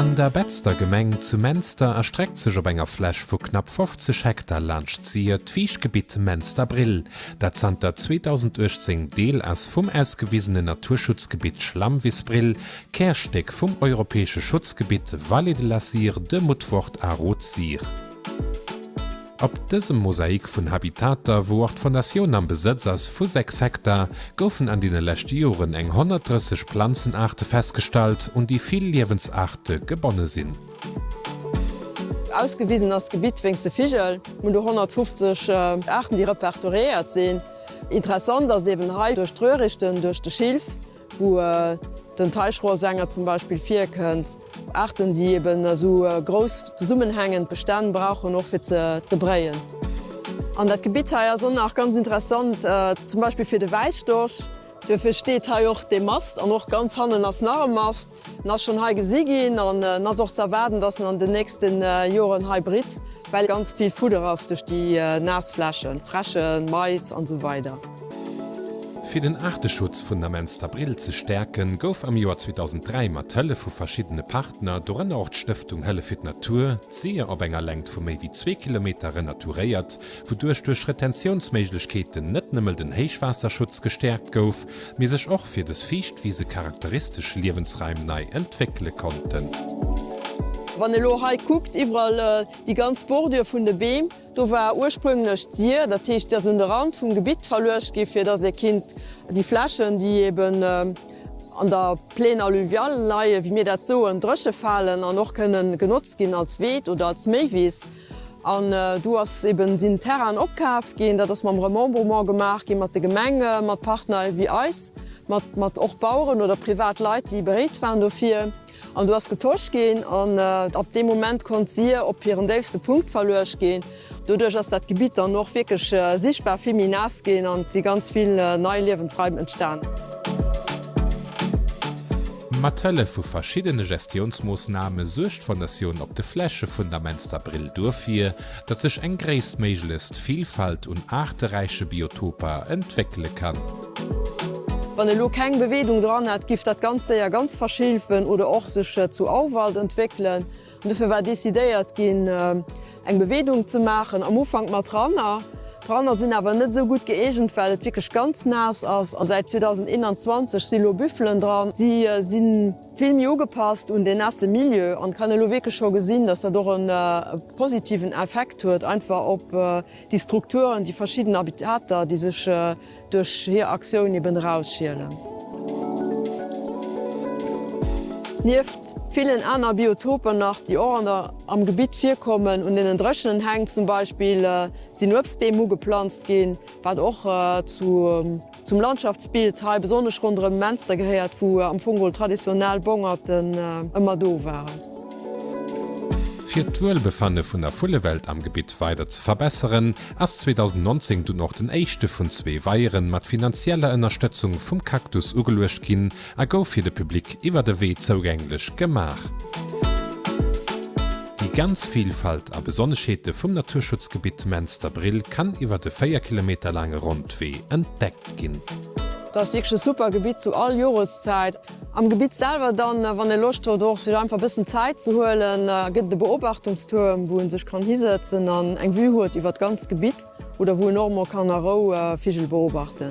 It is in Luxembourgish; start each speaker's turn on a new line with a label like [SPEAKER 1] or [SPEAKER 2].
[SPEAKER 1] An der Betzder Gemeng zu Menster erstreckt sech op enger Fläch vu knapp 50 Hektar laanscht d'Sir d'Wiicht Gebitt Menster-Brill, dat zanter 2018 Deel ass vum ausgewisene Naturschutzgebitt Schlammwiss Brill, Kärstéck vum europäesche Schutzgebitt Vallée de la Sire de Mutfort a Rot-Sire. Op dësem Mosaik vun Habitater, wou och d'Fondatioun am Besëtz ass vu 6 Hektar, goufen an deene leschte Joren eng 130 Planzenaarte festgestallt, un déi vill Liewensaarte gebonne sinn.
[SPEAKER 2] Ausgewisen ass d'Gebitt wéinst de Vigel, vun de 150 Aarten, déi repertoriéiert sinn. Interessant ass eeben hei duerch d'Röhrichten, duerch de Schilf, wou den Teichrohrsänger zum Beispill virkënnt, Aarten, déi eben esou grouss zesummenhängend Bestänn brauchen, och fir ze bréien. An dat Gebitt hei ass och nach ganz interessant, zum Beispill fir de Wäisstorch. Duerfir steet hei och dee Mast an och ganz hannen ass nach e Mast. En ass schonn hei gesi ginn an en ass och ze erwaarden, dass en an den nächste Joren hei britt, well ganz vill Fudder ass duerch déi naass Flächen, Fräschen, Mais an esou weider.
[SPEAKER 1] Fir den Aarteschutz vun der Menster Brill ze stäerken, gouf am Joer 2003 mat Hëllef vu verschiddene Partner, dorënner och d'Stëftung Hëllef fir d'Natur, d'Sir op enger Längt vu méi wéi zwee Kilometer renaturéiert, wouduerch duerch Retentiounsméiglechkeeten net nëmmel den Héichwaasserschutz gestäerkt gouf, mee sech och fir des Fiichtwise charakteristesch Liewensraim nei entwéckele konnten.
[SPEAKER 2] Wann ee lo hei kuckt, iwwerall déi ganz Bordure vun de Beem, do war ursprünglech d'Sir, dat heescht déi ass un de Rand vum Gebitt verluecht gi fir dass ee kinnt déi Flächen déi eben an der Plaine alluviale leie wéi mir dat soen, dréche falen an och kënnen genotzt ginn als Weed oder als Méiwiss. An do ass eben, sinn Terrainen opkaaft ginn, dat ass mam Remembrement gemaach gi mat de Gemenge, mat Partner ewéi eis, mat mat och Baueren oder privat Leit, déi bereet waren dofir. An do ass getosch ginn an ab deem Moment konnt d'Syr op hiren déifste Punkt verluecht ginn. Doduerch ass dat Gebitt dann och wierklech sichtbar vill méi naass ginn an et si ganz vill nei Liewensraim entstan.
[SPEAKER 1] Mat Hëllef vu verschiddene Gestiounsmoossname suergt d'Fondatioun Op de Fläche vun der Menster Brill duerfir, datt sech eng gréisstméiglechst Vilfalt un aarteräiche Biotoper entwéckele kann.
[SPEAKER 2] Wann elo keng Beweedung dran hätt, giff dat ganz séier ganz verschilfen oder och sech zu Auwald entwéckelen. Dofir war decidéiert ginn, eng Beweedung ze maachen, am Ufank mat Ranner. D'Ranner sinn awer net esou gutt gëeegent, well et wierklech ganz naass ass. A säit 2021 si lo Büffelen dran. Si si vill méi ugepasst un deen naasse Milieu an kann elo wierklech scho gesinn, dass dat och e positiven Effekt huet einfach op déi Strukturen, déi verschidden Habitater, déi sech Duerch hir Aktioun eben erausschielen. Nieft villen aner Biotopen nach, déi och an der am Gebitt virkommen, un deenen dréchenen Häng zum Beispill, sinn Uebstbeem ugeplanzt ginn, wat och zu zum Landschaftsbild hei, besonnesch ronderëm Menster gehéiert, wou am Fong geholl traditionell Bongerten ëmmer do waren.
[SPEAKER 1] Fir d'Wuelbefanne vun der Vullewelt am Gebitt weider ze verbesseren, ass 2019 dunn och den éischte vun zwee Weieren mat finanzieller Ënnerstëtzung vum Cactus ugeluecht ginn a gouf fir de Public iwwert e Wee zougänglech gemaach. Déi ganz Vilfalt a Besonneschheete vum Naturschutzgebitt Menster-Brill kann iwwert e 4 Kilometer laange Rondwee entdeckt ginn. Dat ass wierklech e
[SPEAKER 2] super Gebitt zu all Joreszäit. Am Gebitt selwer dann, wann ee Loscht huet och sech einfach e bëssen Zäit ze huelen, gëtt et e Beobachtungstuerm, wou ee sech kann hisëtzen an eng Vue huet iwwert d'ganzt Gebitt oder wou een och emol kann a Rou Vigel beobachten.